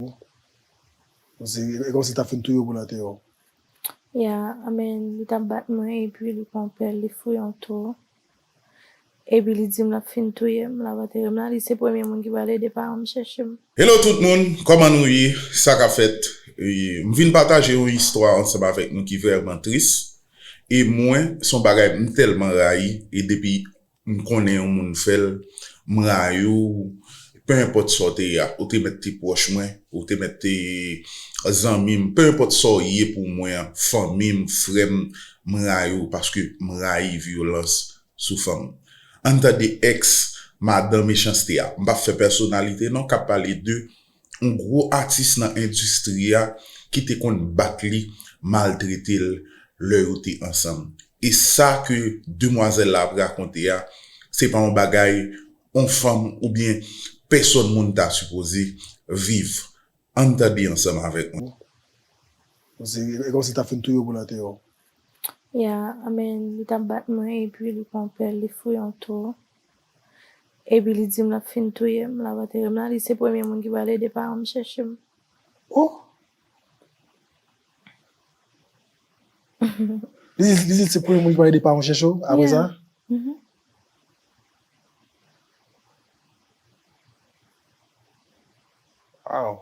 e kòmsi tap fin touyew pou la te ou. Ya amen li tap bat mwen epi li pran pèl li fouye yon tou epi li dim lap fin touyem la va terem la li se premye moun ki pral ede paranm chèchem. Hello tout moun kòman nou ye sa kap fèt m vin pataje yon istwa ansanm avèk nou ki vrèman tris e mwen son bagay m tèlman rayi e depi M konnen yon moun fè l. M rayi w. Pe enpòt sa w te ye a, ou te mèt te pwòch mwen, ou te mèt te zanmi m, pe enpòt sa w ye pou mwen an, fanmi m, frè m, m rayi w paske m rayi vyolans sou fanm. Ann tande ex madan mechanste a. M pap fè pèsonalite non k ap pale de yon gwo atis nan endistri a ki te konn bat li, maltrete l lè yo te ansanm. E sa ke demwazèl la ap rakonte a, se pa yon bagay yon fanm oubyen pèsòn moun ta sipoze viv. An n tande ansanm avèk mwen. Bon, se kòmsi l t ap fin touye w pou l antere w. Ya, men li t ap bat mwen epi li pran pèl li fouye yon tou. Epi li dim lap fin touyem lap anterem la li se premye moun ki pral ede paranm chèchem ohh. Li di li se premye moun ki pral ede paranw chèche w apre sa? Yeah. Waww.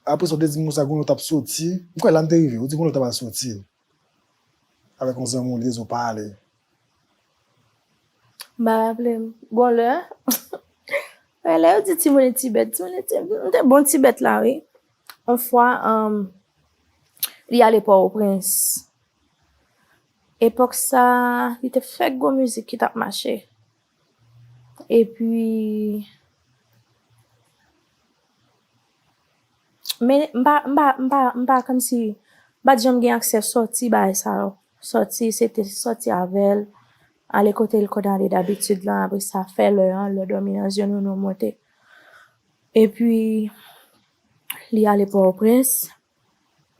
Apre sa ou te di m konsa Gunlò tap soti, m kwè la m te rive, ou di Gunlò tap al soti avèk yon zanmi w li te di w pa ale. M pa raple m, bon lè wè lè yo di timoun e ti bèt, timoun e ti bèt, m te bon ti bèt la wi. On fwa li ale Pòtoprens, epòk sa li te fèk gon mizik ki tap mache. Epi Men m pa m pa m pa m pa kòmsi m pa t janm gen aksè sòti bagay sa yo. Sòti se te sòti avè l, ale kote l konn ale dabitid lan apre sa fè lè an, lè dòmi nan zye nou nou monte. Epi li ale Pòtoprens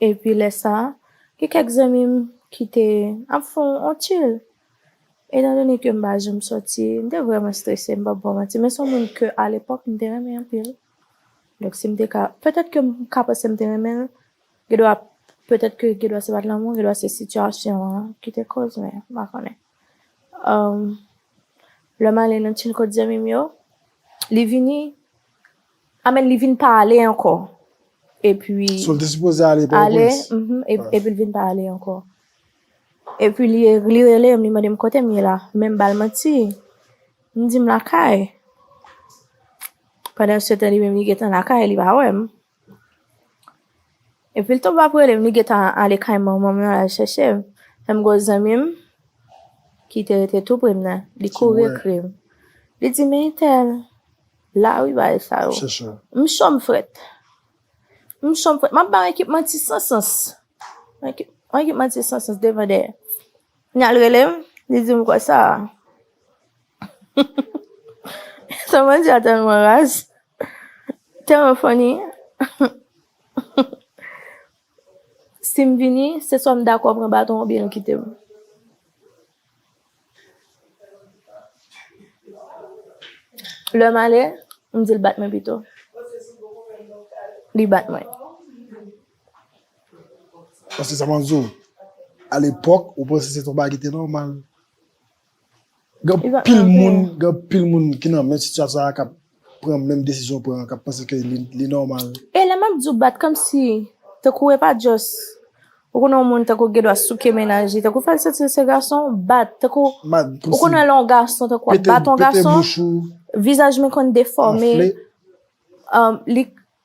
Epi lè sa, gen kèk zanmi m ki te ap fè yon tchil. Etandone ke m pa janm sòti, m te vrèman strese, m p ap ba w manti. Men s on moun ke alepòk m te renmen anpil. Donk si m te ka, petèt ke m ka panse m te renmen l, gendwa petèt ke gendwa se pa t lanmou, gendwa se sitiyasyon an ki te koz men m pa konnen. Lè m ale nan tchil kot zanmi m yo, li vini. Amen li vin pa ale anko epi Sil te sipoze ale pòtoprens. Ale mhm epil vin pa ale anko. Epi li relem li mandem kotem ye la menm bal manti m di m lakay pandansetan li menm li gentan lakay li pa wèm. Epil tou pap relem li gentan ale kay manmanm lan lal chèchem lèm gwo zanmim kite rete tou prem nan li kouri ekrem li di men entèl la wi bagay sa yo m cho m frèt m cho m frèt map bay yon ekip manti san sans yon ekip manti san sans devan dèyè li al relem li dim konsa. Samantha tèlman raz, tèlman funny. Si m vini, se swa m dakò pran baton an oubyen nou kite m. Lè m ale, m di l bat mwen pito. Li bat mwen. Paske sa m ap di w, alepòk, ou panse se t yon bagay ki te nòmal. Gen anpil moun, gen anpil moun ki nan menm sitiyasyon sa a kap pran menm desizyon ou pran an, kap panse ke li nòmal. E lè map di w bat kòmsi, tankou e pa just, ou konnen yon moun tankou gen dwa souke mennaj li, tankou fè l santi l se gason, bat, tankou, ou konnen lè yon gason tankou ap bat yon gason, vizaj li konn defòme, li,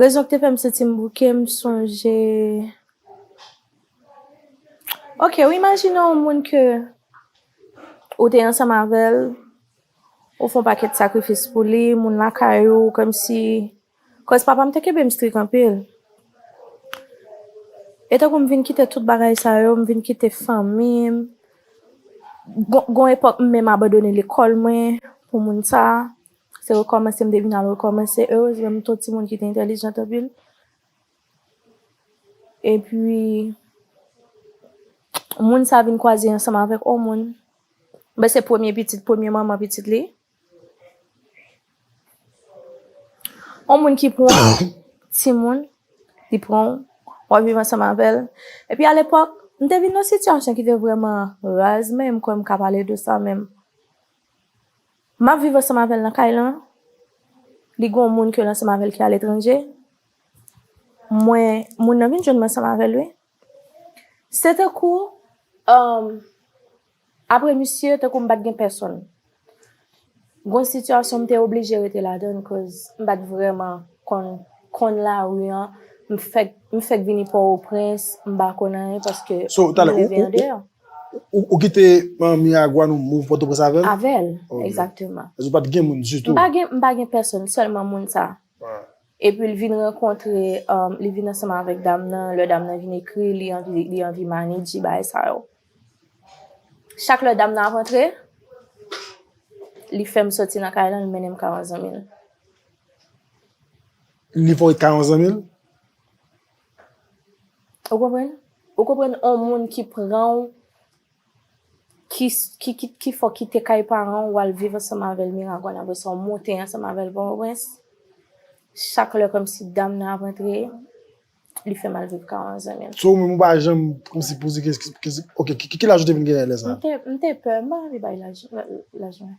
Rezon ki te fè m santi m bouke, m sonje, ok ou imajine yon moun ke ou te ansanm avè l, ou fè yon pakèt sakrifis pou li, moun lakay ou, kòmsi, kòz papa m te kenbe m strik anpil, e tankou m vin kite tout bagay sa yo, m vin kite fanmi m, gon epòk m menm abandone lekòl mwen pou moun sa. Se rekòmanse m te vin al rekòmanse. Erezman m t yon timoun ki te entelijant anpil. Epi, moun sa vin kwaze ansanm avèk yon moun. Mwen se premye pitit, premye manman pitit li. Yon moun ki pran yon timoun, li pran w, w ap viv ansanm avè l. Epi alepòk, m te vin nan yon sitiyasyon ki te vrèman raz, men m kwè m ka pale de sa menm. Map viv ansanm avèl nan kay lan li gon moun kel ansanm avèl ki aletranje mwen moun nan vin jwenn mwen ansanm avèl wi se tankou uhm aprè misye tankou m pat gen pèsonn gon sitiyasyon m te oblije rete ladann koz m pat vrèman konn konn lari an m fèk m fèk vini pòwoprens m pa konn anyen paske So m talè leve ou andeyò. ou ou kite miragwàn ou move pòtoprens avèl? Avèl Ok egzakteman. Vèzè ou pat gen moun ditou? M pa gen m pa gen pèsonn sèlman moun sa Wa. epi l vin rankontre li vin ansanm avèk dam nan lè dam nan vin ekri li anvi li anvi manidji bagay sa yo chak lè dam nan ap antre li fèm sòti nan kay lan li mennen m ka yon zanmi l. Li voye kay yon zanmi l? Ou konprann? Ou konprann yon moun ki pran w, ki fè w kite kay paran w, wal viv ansanm avè l Miragwàn, apre sa w monte ansanm avè l Pòtoprens, chak lè kòmsi dam nan ap antre, li fè mal viv kay yon zanmi l. So ou menm ou pa janm kòmsi poze, ok, ki laj ou te vin genyen lè sa? M te pè, m pa anvi bay laj mwen.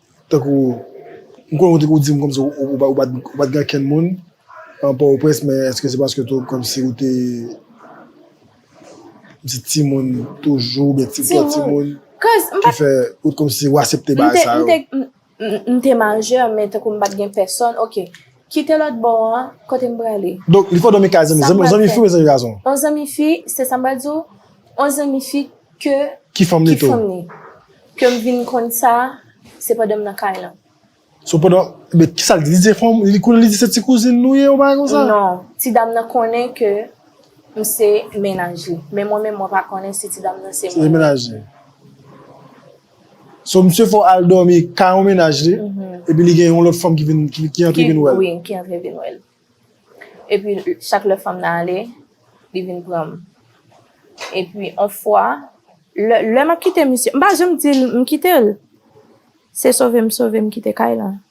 Tankou, m konnen ou te konn di m kòmsi ou pa t gen ankenn moun nan Pòtoprens men èske se paske tou kòmsi ou te kòmsi timoun toujou oubyen ti pòt timoun ki fè ou t kòmsi ou asepte bagay sa yo? M te majè men tankou m pa t gen pèsòn, ok. Kite lòt bò an, kote m prale. Donk, li fò dòmi kay zanmi. Zanmi, zanmi fi oubyen zanmi gason? On zanmi fi, se sa m pral di w, on zanmi fi ke. Ki fanm li tou? Ki fanm li. Ke m vin konn sa, se pandan m nan kay lan. So pandan, men kisa l di? Li di se fanm, li konnen li di se ti kouzin nou ye, yon bagay konsa? Non, ti dam nan konnen ke m se mennaj li. Men mwen menm mwen pa konnen si ti dam nan se mennaj li. Se mennaj li. So misye fò al dòmi kay yon mennaj li, epi li gen yon lòt fanm ki vin, ki antre vin wèl. Wi, ki antre vin wèl. Epi chak lè fanm nan ale, li vin pranm. Epi on fwa, lè, lè map kite misye, m pa janm dil m kitel. Se sove m sove m kite kay lan.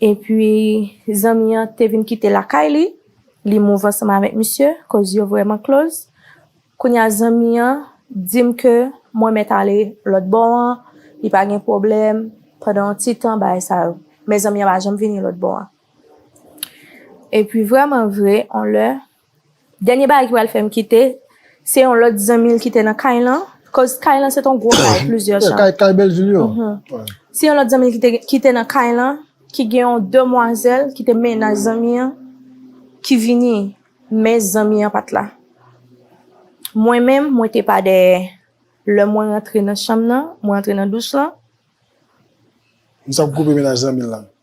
Epi, zanmi an te vin kite lakay li, li move ansanm avèk misye, koz yo vrèman close. Kounye a zanmi an di m ke mwen mèt ale lòtbò an, li pa gen pwoblèm, pandan yon ti tan bagay sa yo. Men zanmi an pa janm vini lòtbò an. Epi vrèman vre, yon lè, Dènye bagay ki pral fè m kite, se yon lòt zanmi l ki te nan kay lan, koz kay lan se te yon gwo kay, plizyè chanm. Kay, kay Bèljil yo? Wi. Se yon lòt zanmi l ki te, ki te nan kay lan, ki gen yon demwazèl ki te mennaj zanmi an, ki vini, men zanmi an pa t la. Mwen menm, mwen te pa dèyè. Lè mwen rantre nan chanm nan, mwen rantre nan douch lan. Sa w koupe mennaj zanmi l lan?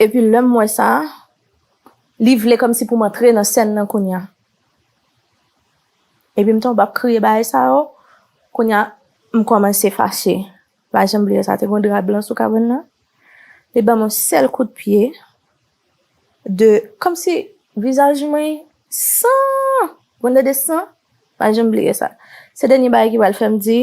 Epi lè m wè sa, li vle kòmsi pou m antre nan sèn nan kounya. Epi m tonbe ap kriye bagay sa yo, kounya m kòmanse fache. M pa janm bliye sa, te gen yon dra blan sou kabann nan, li ban m yon sèl kout pye de kòmsi vizaj mwen san, m konn tande san, m pa janm bliye sa. Se dènye bagay ki pral fè m di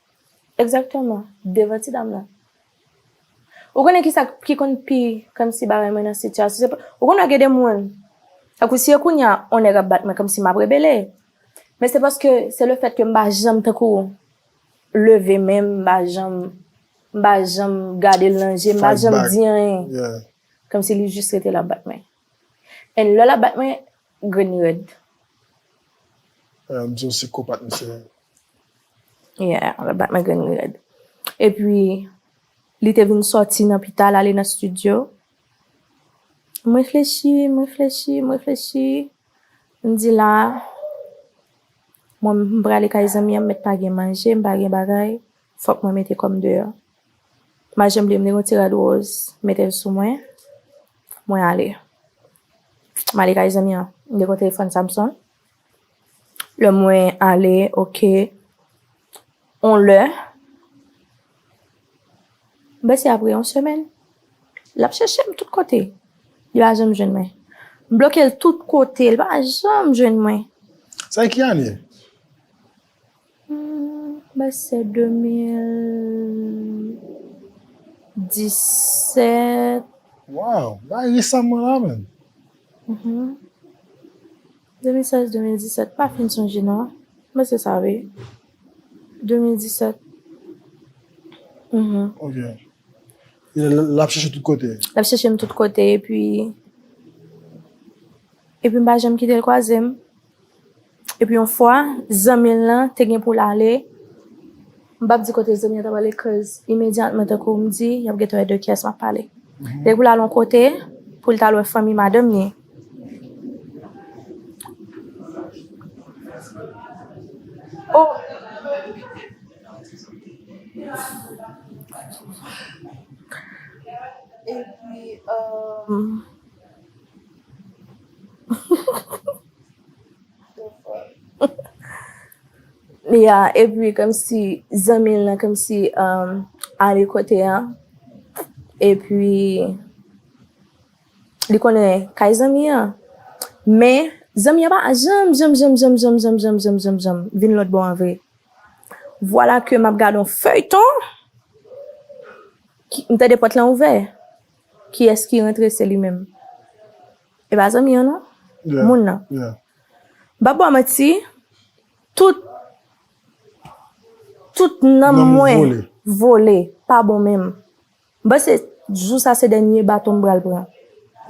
Exactement devan ti dam nan. Ou konnen kisa ki konn pi kòmsi ba mwen nan sitiyasyon se ou konnen gen de moun tankou si e kounya on nèg ap bat mwen kòmsi map rebele men se paske se le fèt ke m pa janm tankou leve men m pa janm m pa janm gade l nan je m pa janm di anyen kòmsi li jis rete la ap bat mwen and lè lap bat mwen Grenn red. An di yon sikopat misye ye. Yeah, lap bat nan grenn red. Epi li te vin soti nan pital ale nan studio. M reflechi, m reflechi, m reflechi. M di la, mwen m prale kay zanmi an m mèt pa gen manje, m pa gen bagay, fòk mwen mete kò m deyò. Mache m bliye m gen yon ti rad woz m mete l sou mwen mwen ale m ale kay zanmi an m gen yon telefòn Samsung lè mwen ale ok yon lè m panse apre yon semèn l ap chèche m tout kote li pa janm jwenn mwen m bloke l tout kote li pa janm jwenn mwen. Sa ki ane? Mwen panse se 2017. Waw, bagay resaman la menm. 2016, 2017, pa fin sonje non. Mwen se sa wi. 2017. Ok. E l ap chèche tout kote? L ap chèche m tout kote epi epi m pa janm kite l kwaze m. Epi yon fwa, zanmi l lan te gen pou l ale, m p ap di kote zanmi an t ap ale koz imedyatman tankou m di y ap gentan wè de ki yès m ap pale. Te gen pou l al yon kote pou l t al wè fanmi madanm ni. O! Epi, Ya, epi kèmsi zanmi l nan kèmsi um, ale kote a, epi li konnen kay zanmi an. Men, zanmi an pa janm, janm, janm, janm, janm, janm, janm, janm, janm, janm vin lòt bò an vre. Vwala ke m ap gade yon feyton, m tande pòt lan ouvè. Kiyes ki rentre se li menm. E pa zanmi an non Moun nan M pap baw manti Tout Tout nanm mwen Vole pa bon menm M panse jou sa se dènye baton m pral pran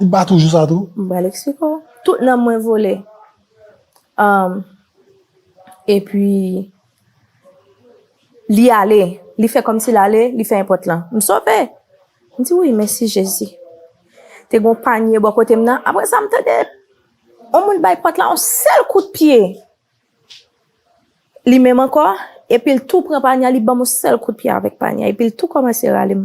Li bat ou jou sa tou? M pral eksplike w Tout nanm mwen vole Epi. Li ale, li fè kòmsi l ale, li fè enpòt lan. M sove! M di, Wi, mèsi Jezi. Te gen yon panye bò kote m nan. Apre sa, m tande yon moun bay pòt la yon sèl kout pye. Li menm ankò, epi l tou pran panye a, li ban m yon sèl kout pye avèk panye a, epi l tou kòmanse rale m.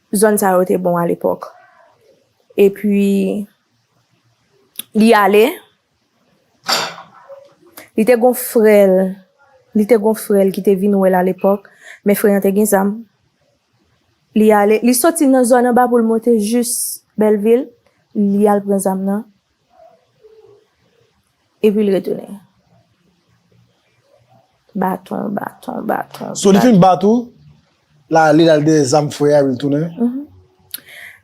Zòn sa yo te bon a lepòk. Epi, li ale, li te gen yon frè l, li te gen yon frè l ki te vin wè l a lepòk, men frè an te gen zam. Li ale, li soti nan zòn anba pou l monte jis Bèlvil, li al pran zam nan. Epi l retounen. Baton, baton, baton. So li fin bat ou, l ale l al dèyè zam fre a epi l tounen? Mh.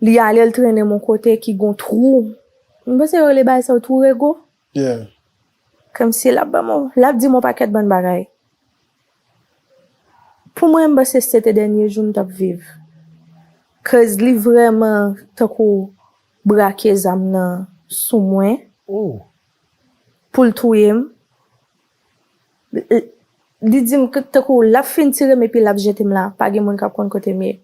Li ale l trennen m yon kote ki gen yon twou. M panse yo rele bagay sa yo twou rego? Yeah. Kòmsi l ap ban m yon, l ap di m yon pakèt bann bagay. Pou mwen, m panse se te dènye jou m t ap viv. Koz li vrèman tankou Brake zam nan sou mwen. Oh! Pou l touye m. L, li di m tankou l ap fin tire m epi l ap jete m la. Pa gen moun k ap konn kote m ye.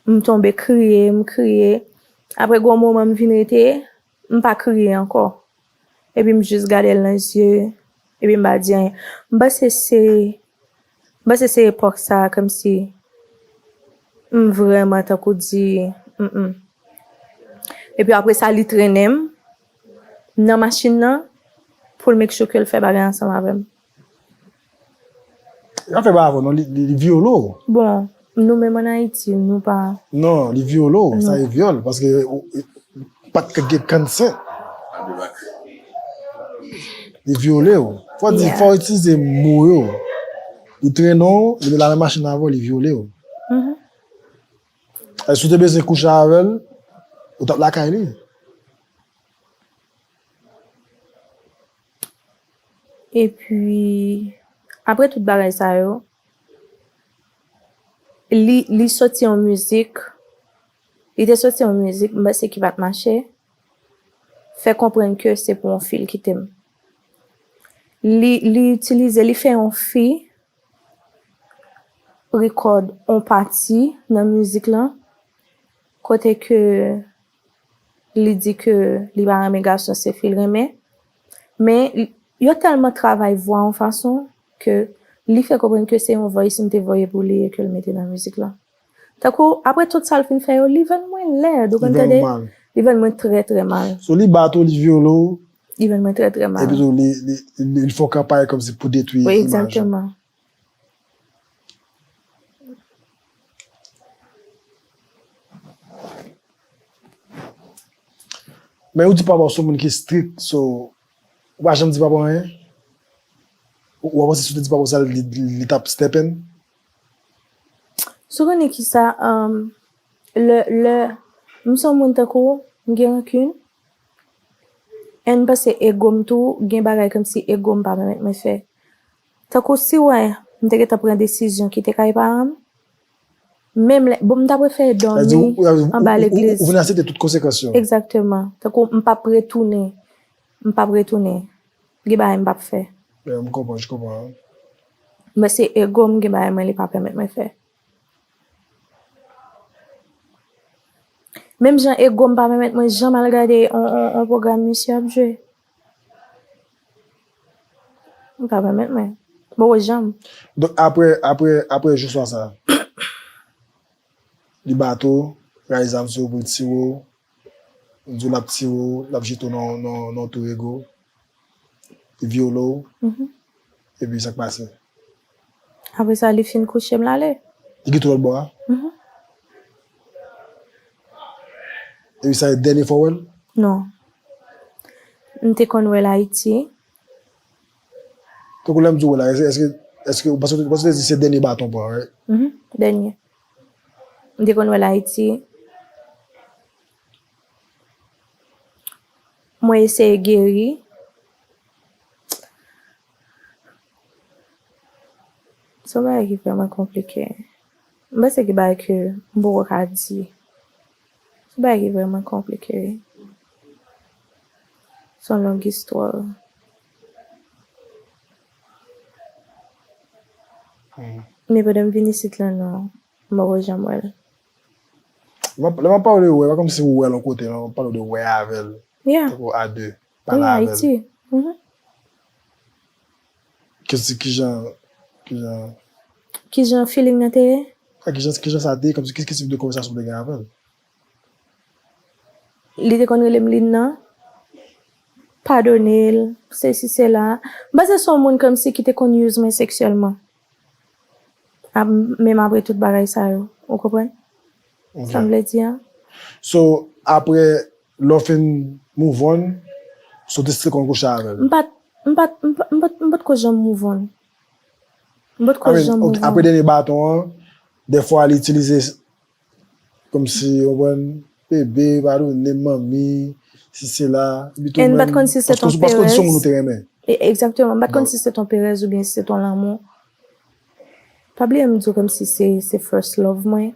M tonbe kriye, m kriye. Apre gen yon moman m vin rete, m pa kriye ankò. Epi m jis gade l nan zye, epi m pa di anyen. M panse se, m panse se epòk sa a kòmsi m vrèman tankou di m. Epi apre sa li trennen m nan machin nan pou l make sure ke l fè bagay ansanm avè m. Yap fè bagay avèw non li vyole w. Bon nou menm an ayiti nou pa. Non li vyole w sa e vyòl paske ou pat ka gen kansè. Li vyole w fò di fò itilize mo yo li trennen w li met la menm machin avèw li vyole w. Si w te bezwen kouche avèl ou tap lakay li. Epi, apre tout bagay sa yo, li soti yon mizik, li te soti yon mizik, m panse ki pa t mache, fè konprann ke se pou yon fi l kite m. Li itilize, li fè yon fi rekòd yon pati nan mizik lan, kote ke. li di ke li pa renmen gason se fil renmen men yo tèlman travay vwa yon fason ke li fè konprann ke se yon voice m te voye pou li e ke l mete nan mizik lan tankou apre tout sa l fin fè yo li vin wè m lèd ou konn tande li vin wè m trè trè mal so li bat ou li vyole w li vin wè m trè trè mal epi tou li fè w kanpay kòmsi pou detwi imaj ou. Men ou di papa w se yon moun ki strik, so ou pa janm di papa w anyen? Ou pa panse si w te di papa w sa li t ap stepen? Sou konnen kisa, lè m se yon moun tankou w, m gen rankin, e m panse ego m tou gen bagay kòmsi ego m pa pèmèt mwen fè. Tankou si wè m te gentan pran desizyon kite kay paran m, menm lè, bon m ta prefere dòmi anba legliz. Ou vin asepte tout konsekans yo. Egzakteman. Tankou m pap retounen, m pap retounen. Gen bagay m pap fè. Eee m konprann, je konprann. Men se ego m gen bagay mwen li pa pèmèt mwen fè. Menm jan ego m pa pèmèt mwen janm al gade on pwogram misye ap jwe. M ka pèmèt mwen. Mwen wè jan m. Donk apre, apre, apre jou swa sa a, li bate w, rayi zam sou ou pou l tire w, li di w l ap tire w, l ap jete w nan yon, nan yon tou rego, li vyole w, epi sa k pase? Apre sa li fin kouche m l ale. Li gen twal bwa a? Mh. Epi sa se dènye fwa w wè l? Non. M te konn wè l Ayiti. Tankou lè m di w wè l a, èske, èske ou panse, paske ou te di se dènye baton bwa a, right? Mh, dènye. M te konn wè l Ayiti. Mwen eseye geri. Se yon bagay ki vrèman konplike. M panse gen bagay ke m poko ka di. Se yon bagay ki vrèman konplike. Se yon long istwa. Men pandan m vin isit lan non, m poko janm wè l. Lè m ap pale de wè, pa kòmsi m wè l yon kote non, m ap pale de wè avè l. Ya. Tankou a de. Pale avèl. Kèmsi kijan kijan. Kijan feeling nan te ye? A kijan kijan sa te ye kòmsi ki tip de konvèsasyon ou te gen avèl? Li te konn rele m Lynn nan. Padone l, sesi sela. M panse se yon moun kòmsi ki te konn use mwen seksyèlman. Ap menm apre tout bagay sa yo. Ou konprann? Sam vle di an? So, apre lè w fin move on, so w te still konn kouche avè l? M pat, m pat, m pat, m pat, m potko janm move on. M potko janm move on. Apre dènye baton an, dèfwa li itilize Komsi ou konprann Bebe pa donem manmi si sela epi tou menm paske ou paske ou di son moun ou te renmen. Exactement m pat konn si se ton perèz oubyen si se ton lanmou pa bliye m diw komsi se first love mwen.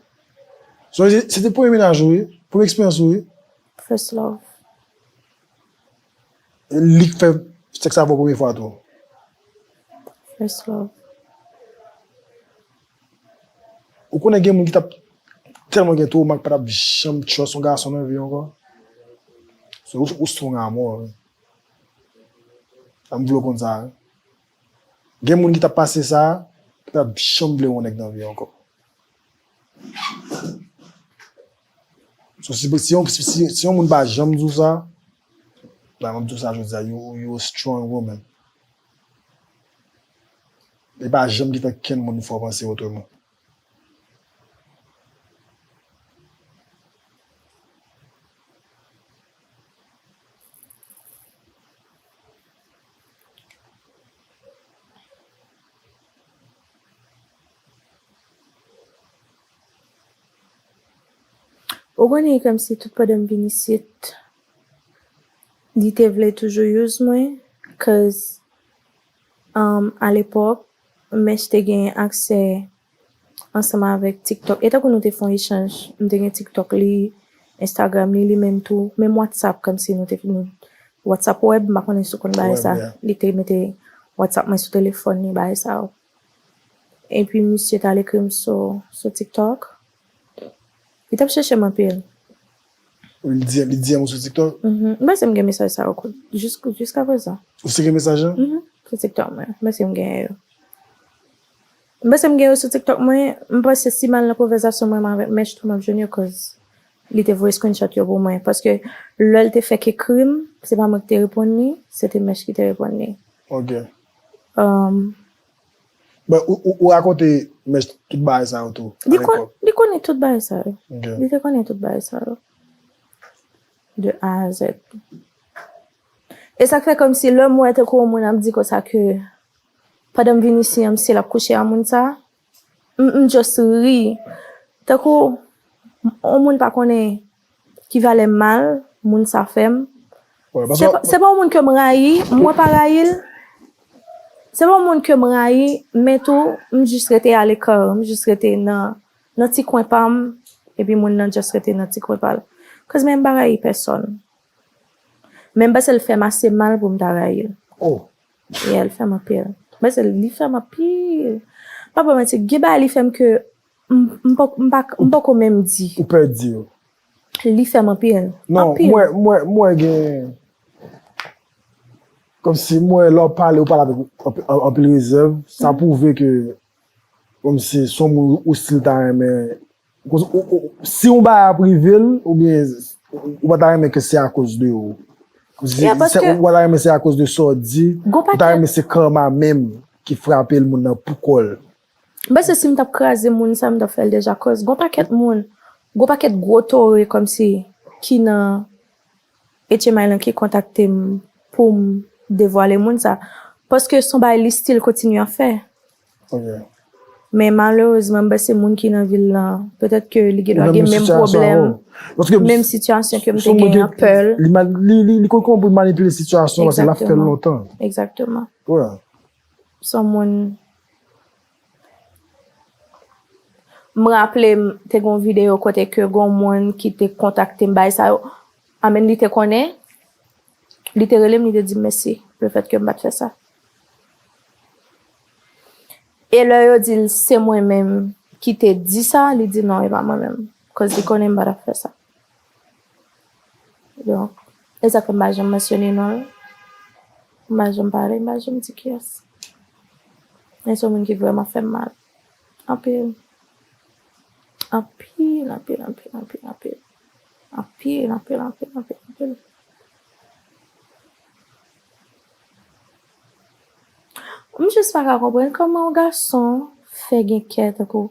Son se se te premye mennaj ou wi premye eksperyans ou wi. First love. Lik fè sèks avèw premye fwa tou. First love. Ou konnen gen moun ki tap telman gen twoma ki patap janm trust yon gason nan vi yo ankò. So ou strong a mò wi. Em vle w konn sa wi. Gen moun ki tap pase sa, ki patap janm vle yon nèg nan vi yo ankò. So si si yon moun pa janm di w sa, mwen map di w sa jodi a, you a strong woman. Li pa janm gentan kenn moun fò panse otreman. Ou konnen komsi tout pandan m vin isit li te vle toujou use mwen cuz A lepòk, Mech te gen aksè ansanm avèk TikTok. E tankou nou te fè yon echanj, m te gen TikTok li, Instagram li, li menm tou. Menm WhatsApp, kòmsi nou te fin WhatsApp web, m pa konnen si w konn bagay sa. Li te mete WhatsApp mwen sou telefòn li, bagay sa yo. Epi misye t al ekri m sou TikTok. Li t ap chèche m anpil. Li di li di an sou tiktok. M panse m gen mesaj sa yo jiska prezan. Ou si gen mesaj lan? Mh sou tiktok mwen. M panse m genyen yo. M panse m gen yo sou tiktok mwen. M panse si m al nan konvèzasyon mwen avèk Mech tou m ap jwenn yo koz li te voye screenshot yo pou mwen. Paske lè l te fèk ekri m, se pa mwen ki te reponn li, se te Mech ki te reponn li. Ok. Bon, ou rakonte Mèch tout bagay sa yo tou a lepòk? Li konnen tout bagay sa yo. Li te konnen tout bagay sa yo. De A a Z. E sa k fè kòm si lè m wè tankou yon moun ap di konsa ke pandan m vin isi an misye l ap kouche a moun sa a, m just ri. Tankou yon moun pa konnen Ki valè mal moun sa fèm. Se pa yon moun ke m rayi, mwen pa rayi l. Se pa yon moun ke m rayi, men tou m jis rete a l'ecart, m jis rete nan ti kwen pa m, epi moun nan just rete nan ti kwen pa l. Cause men m pa rayi pèsòn. Men m panse l fè m ase mal pou m ta rayi l. Yeah, l fè m anpil. M panse li fè m anpil. M pap ba w manti, gen bagay li fè m ke M poko menm di. Ou pè di yo. Li fè m anpil. Non, mwen gen. Kòm si mwen lè w pale, w pale avèk anpil rezèv. Sa pwouve ke kòm si s on moun ou stil ta renmen. Si yon bagay ap rive l, oubyen ou pa ta renmen ke se akoz de ou. Ou pa ta renmen se akoz de sa w di. Ou ta renmen se karma menm ki frape l moun nan poukò l. M panse si m t ap kraze moun sa m t ap fè l deja koz gon pakèt moun, gon pakèt gwo tore kòmsi ki nan HMI lan ki kontakte m pou m devwale moun sa. Paske s on bagay li stil kontinye ap fè. Men malerezman m panse moun ki nan vil lan petèt ke li gendwa gen menm pwoblèm, menm sitiyasyon ke m te gen an, pè l. Li konn kòman pou l manipile sitiyasyon paske l ap fè l lontan. Egzakteman. Son moun M raplem te gon video kote ke gon moun ki te kontaktem bay sa yo I mean li te konnen li te relem li te dim mèsi le fèt kem pat fè sa e lè yo dil se mwen menm ki te di sa li di non e pa mwen menm cause li konnen m pa tap fè sa. Donk, e sa fè m pa janm mansyone non l, m pa janm pale, m pa janm di kiyès. Men se yon moun ki vrèman fè m mal. Anpil. Anpil, anpil, anpil, anpil, anpil. Anpil, anpil, anpil, anpil, anpil. M jis pa ka konprann kòman yon gason fè gen kè tankou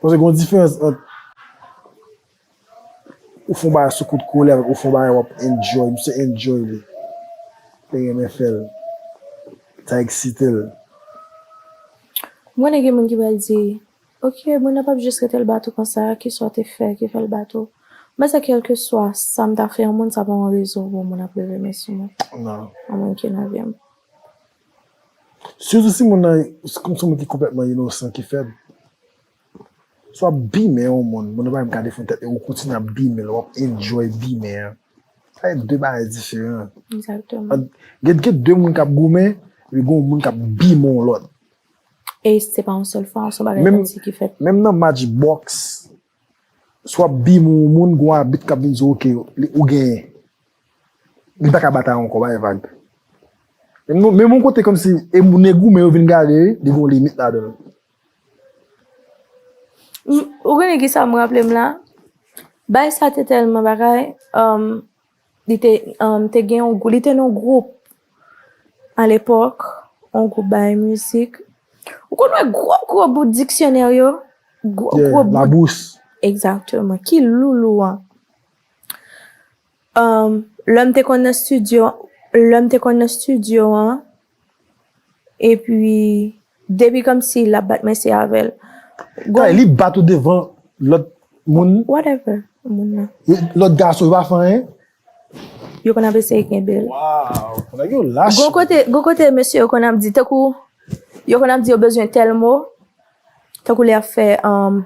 Paske gon diferans ant ou fon bagay sou kout kolè avèk ou fon bagay wap enjoy. Misye enjoy li. Li renmen fèl. Sa eksitel. M konnen gen moun ki pral di, ok moun an pap jis rete l bat ou konsa, kisa w te fè ki fè l bat ou? M panse kèlkeswa sa m ta fè yon moun sa pa yon rezon pou yon moun ap leve men sou mwen. Nan. Yon moun ki nan vi m. Sitou si moun nan se moun ki konplètman inosan, ki fèb. Si w ap bimen yon moun, moun nan pa menm ka defann tèt li, ou kontinye ap bimen l, ou ap enjoy bimen an, sa se de bagay diferan. Gen de moun k ap goumen, epi gen yon moun k ap bimen yon lòt. E se pa yon sèl fwa, se yon bagay ki fèt. Menm nan match bòks. Si w ap bim yon moun, gen yon abit k ap vin di w ok, ou genyen. Li pa ka batay ankò, bay vag. Menm yon kote kòmsi e moun e goumen yo vin gade li gen yon limit ladan l. Ou konnen kisa m raple m la? Bay sa te tèlman bagay, Li te um, te gen yon, li te nan gwoup a lepòk, yon gwoup bay mizik. Ou konn wè gwo gwo bout diksyonè yo? Gwo gwo bout. Labous. Exactement. Ki loulou an. Um, lè m te konn nan studio, lè m te konn nan studio an, Epi depi komsi lap bat mesye avèl. Kay li bat ou devan lòt moun. Whatever moun nan. Lòt gason yo pa fè anyen. Yo konn ap eseye kenbel. Waww nèg yo lach. Gon kote gon kote mesye yo konn ap di tankou yo konn ap di yo bezwen tèl mo tankou lè yap fè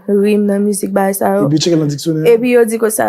rim nan mizik bagay sa yo. Epi yo tcheke nan diksyonè. Epi yo di konsa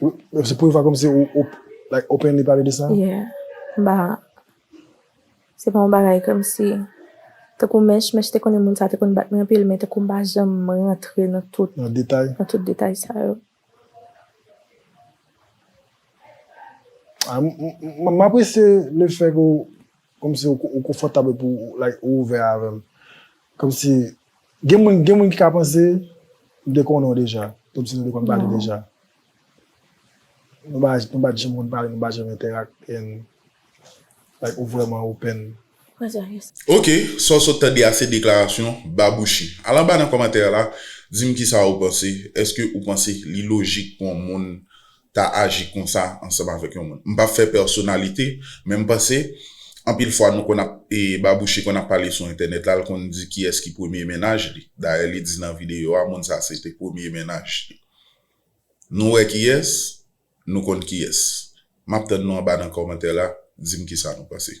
Se premye fwa kòmsi ou like openly pale de sa? Yeah. Ba, se pa yon bagay kòmsi, tankou Mèch, Mèch te konnen moun sa te konn bat mwen anpil men tankou m pa janm rantre nan tout, Nan detay? nan tout detay sa yo. M apresye lefè ke w Komsi ou konfòtab epi ou like ou ouvè avèm. Komsi gen moun gen moun ki ka panse m te konnen w deja. Komsi nou te konn pale deja. Nou pa nou pa t janm konn pale nou pa janm entèrak and like ou vrèman open. Ok, sa w sot tande a se deklarasyon Babouchi. Al anba nan kòmantè la, di m kisa ou panse. Èske ou panse li lojik pou yon moun ta aji konsa ansanm avèk yon moun. M pap fè pèsonalite, men m panse anpil fwa nou konn ap Babouche konn ap pale sou entènèt la, l konn di kiyès ki premye mennaj li. Dayè li di nan videyo a moun sa se te premye mennaj li. Nou wè kiyès? Nou konn kiyès? M ap tann nou anba nan kòmantè la, di m kisa nou panse.